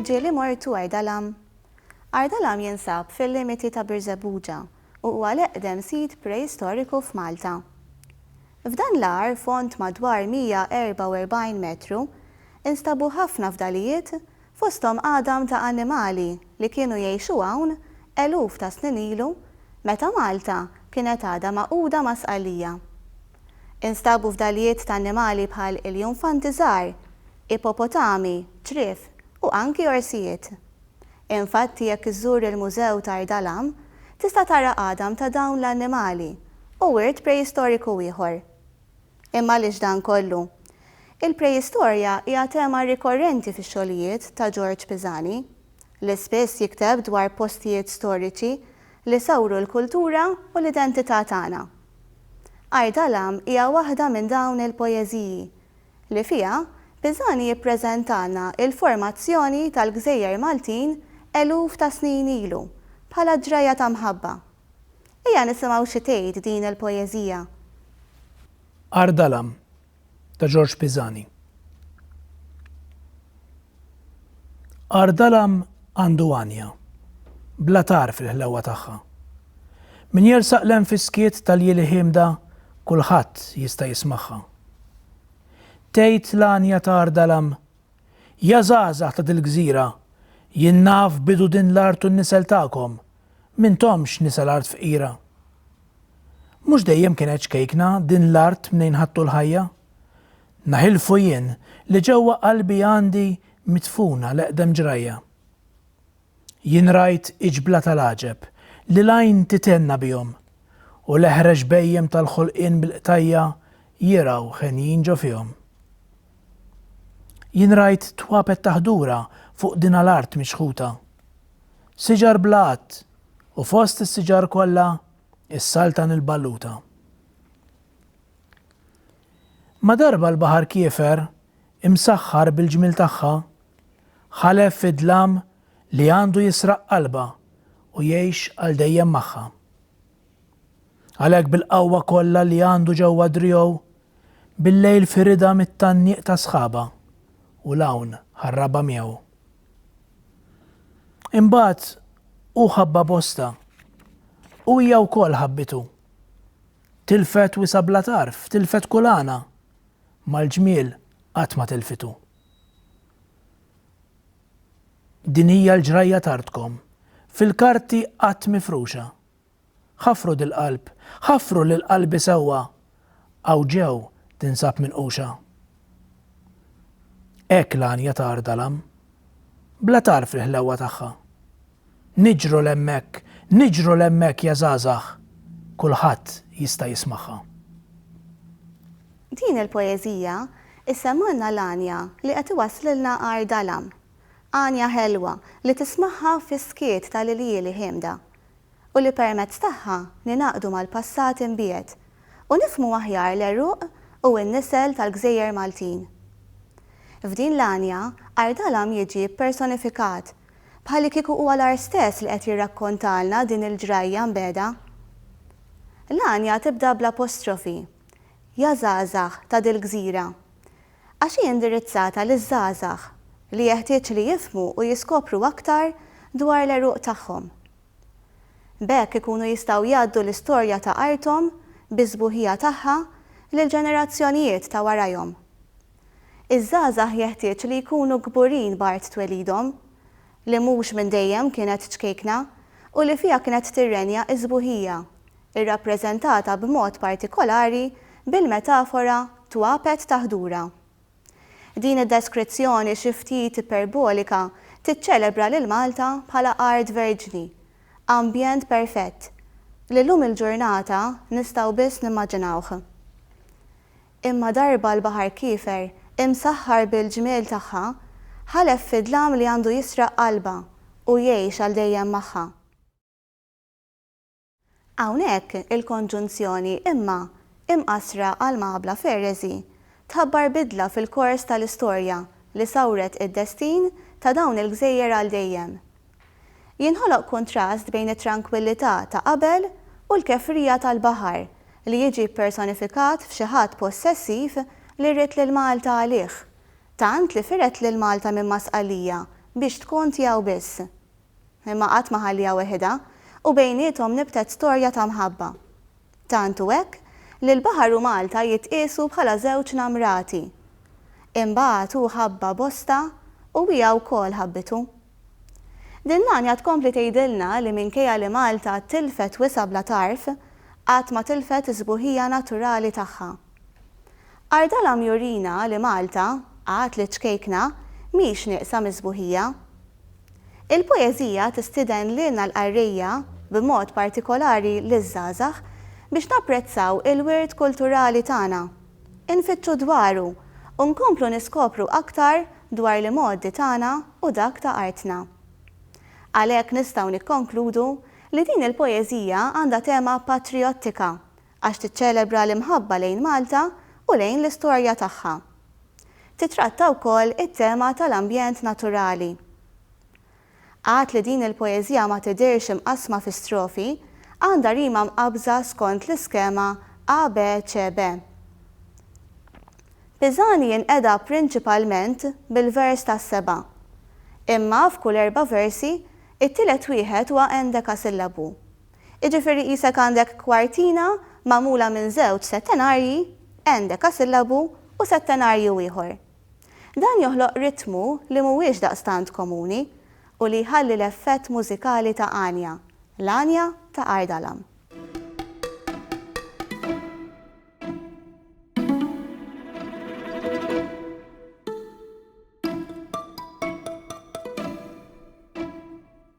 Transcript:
Ġieli imortu Ardalam Ardalam jinsab fil-limiti ta' Birżebbuġa u huwa l-eqdem sit preistoriku f'Malta. F'dan l-agħar fond madwar 144 metru, instabu ħafna fdalijiet Fosthom għadam ta' annimali li kienu jgħixu hawn eluf ta' snin ilu meta Malta kienet għadha magħquda ma' Sqallija. Instabu fdalijiet ta' annimali bħal iljunfanti żgħar, ipopotami, ċriev u anki orsijiet. Infatti jekk iżżur il-Mużew Tar Dalam tista' tara għadam ta' dawn l-annimali u wirt preistoriku ieħor. Imma għaliex dan kollu? Il-preistorja hija tema rikorrenti fix-xogħlijiet ta' Ġorġ Pisani, li spiss jikteb dwar postijiet storiċi li sawru l-kultura u l-identità tagħna. Art Alam hija waħda minn dawn il-poeżiji, li fiha Pisani jippreżentalna l-formazzjoni tal-gżejjer Maltin eluf ta' snin ilu bħala ġrajja ta' mħabba. Ejja nisimgħu xi tgħid din il-poeżija. Għar Dalam ta' Ġorġ Pisani Għar dalam għandu għanja, bla tagħar fil-ħlewwa tagħha. Min jersaq l-hemm fis-skiet tal-jili ħiemda kulħadd jista' jismagħha. Tgħid l-għanja ta' Għar Dalam, Ja żgħażagħ ta' dil-gżira, jien naf bidu din l-art u n-nisel tagħkom, M'intomx nisa l-art fqira. Mhux dejjem kienet ċkejkna din l-art mnejn ħadtu l-ħajja? Naħilfu jien li ġewwa qalbi għandi midfuna l-eqdem ġrajja. Jien rajt iġbla tal-għaġeb li l-għajn tithenna bihom u l-eħrex bhejjem tal-ħolqien bil-qtajja' jirgħu henjin ġo fihom. Jien rajt twapet ta' ħdura fuq dinha l-art miċħuta. Siġar bla għadd, u fost is-siġar kollha s-saltan il-balluta. Ma darba l-baħar kiefer, imsaħħar bil-ġmiel tagħha, ħalef fid-dlam li għandu jisraq qalbha u jgħix għal dejjem magħha. Għalhekk bil-qawwa kollha li għandu ġewwa driegħu, billejl firidha mit-tgħanniq ta' sħabha u 'l hawn ħarrabha miegħu. Imbagħad hu ħabbha bostha u hija wkoll ħabbitu. Tilfet wisa' bla tarf, tilfet kull għana, ma l-ġmiel qatt ma tilfitu. Din hija l-ġrajja t'artkom, fil-karti qatt mifruxa, Ħaffru dil-qalb, ħaffru lil qalbi sewwa, hawn ġew tinsab minquxa. Hekk l-għanja ta' Għar Dalam, bla tagħrf il-ħlewwa tagħha. Niġru 'l hemmhekk, niġru 'l hemmhekk ja żgħażagħ, kulħadd jista' jismagħha. Din il-poeżija issemmgħilna l-għanja li qed iwasslilna Għar Dalam. Għanja ħelwa li tismagħha fis-skiet ta' liljieli ħiemda. u li permezz tagħha ningħaqdu mal-passat imbiegħed u nifhmu aħjar l-għeruq u n-nisel tal-gżejjer Maltin. F'din l-għanja, Art Għalam jiġi ppersonifikat, bħallikieku huwa l-art stess li qed jirrakkontalna din il-ġrajja mbegħda. L-għanja tibda bl-apostrofi, Ja żgħażagħ ta' dil-gżira, għax hi indirizzata liż-żgħażagħ li jeħtieġ li jifhmu u jiskopru aktar dwar l-għeruq tagħhom. B'hekk ikunu jistgħu jgħaddu l-istorja ta' arthom bis-sbuħija tagħha lill-ġenerazzjonijiet ta' warajhom. Iż-żgħażagħ jeħtieġ li jkunu kburin b'art twelidhom, li mhux minn dejjem kienet ċkejkna u li fiha kienet tirrenja s-sbuħija, irrappreżentata b'mod partikolari bil-metafora twapet ta' ħdura. Din id-deskrizzjoni xi ftit iperbolika tiċċelebra lil Malta bħala art verġni, ambjent perfett, li llum il-ġurnata nistgħu biss nimmaġinawh. Imma darba l-baħar kiefer, imsaħħar bil-ġmiel tagħha, ħalef fi dlam li għandu jisraq qalbha u jgħix għal dejjem magħha. Hawnhekk il-konġunzjoni imma, imqassra għal maqabla ferreżi, tħabbar bidla fil-kors tal-istorja li sawret id-destin ta' dawn il-gżejjer għal dejjem. Jinħoloq kuntrast bejn it-trankwillità ta' qabel u l-kefrija tal-baħar li jiġi ppersonifikat f'xi ħadd possessiv li ried lil Malta għalih, tant li fired lil Malta minn Masqalija biex tkun tiegħu biss. imma qatt ma ħalliha weħidha, u bejniethom nibtet storja ta' mħabba. Tant hu hekk li l-baħar u Malta jitqiesu bħala żewġ namrati. Imbagħad hu ħabba Bosta u hija wkoll ħabbitu. Din l-għanja tkompli tgħidilna li minkejja li Malta tilfet wisgħa bla tarf, qatt ma tilfet is-sbuħija naturali tagħha. Ardalam jurina li Malta, għad li ċkejkna, mhix nieqsa mis-sbuħija. Il-poeżija tistieden lilna l-qarrejja, b'mod partikolari liż-żgħażagħ, biex napprezzaw il-wirt kulturali tagħna, infittxu dwaru u nkomplu niskopru aktar dwar l-imgħoddi tagħna u dak ta' artna. Għalhekk nistgħu nikkonkludu li din il-poeżija għandha tema patrijottika Għax tiċċelebra l-imħabba lejn Malta u lejn l-istorja tagħha. Titratta wkoll it-tema tal-ambjent naturali. Għad li din il-poeżija ma tidhirx imqassma fi strofi, għandha rima mqabbża skont l-iskema ABCB. Pisani jinqeda prinċipalment bil-vers tas-seba', imma f'kull erba' versi, it-tielet wieħed huwa endekasillabu, Jiġifieri qisek għandek kwartina magħmula minn żewġ settenarji, endekasillabu, u settenarju ieħor. Dan joħloq ritmu li mhuwiex daqstant komuni u li jħalli l-effett mużikali ta' għanja, l-għanja ta' Ardalan.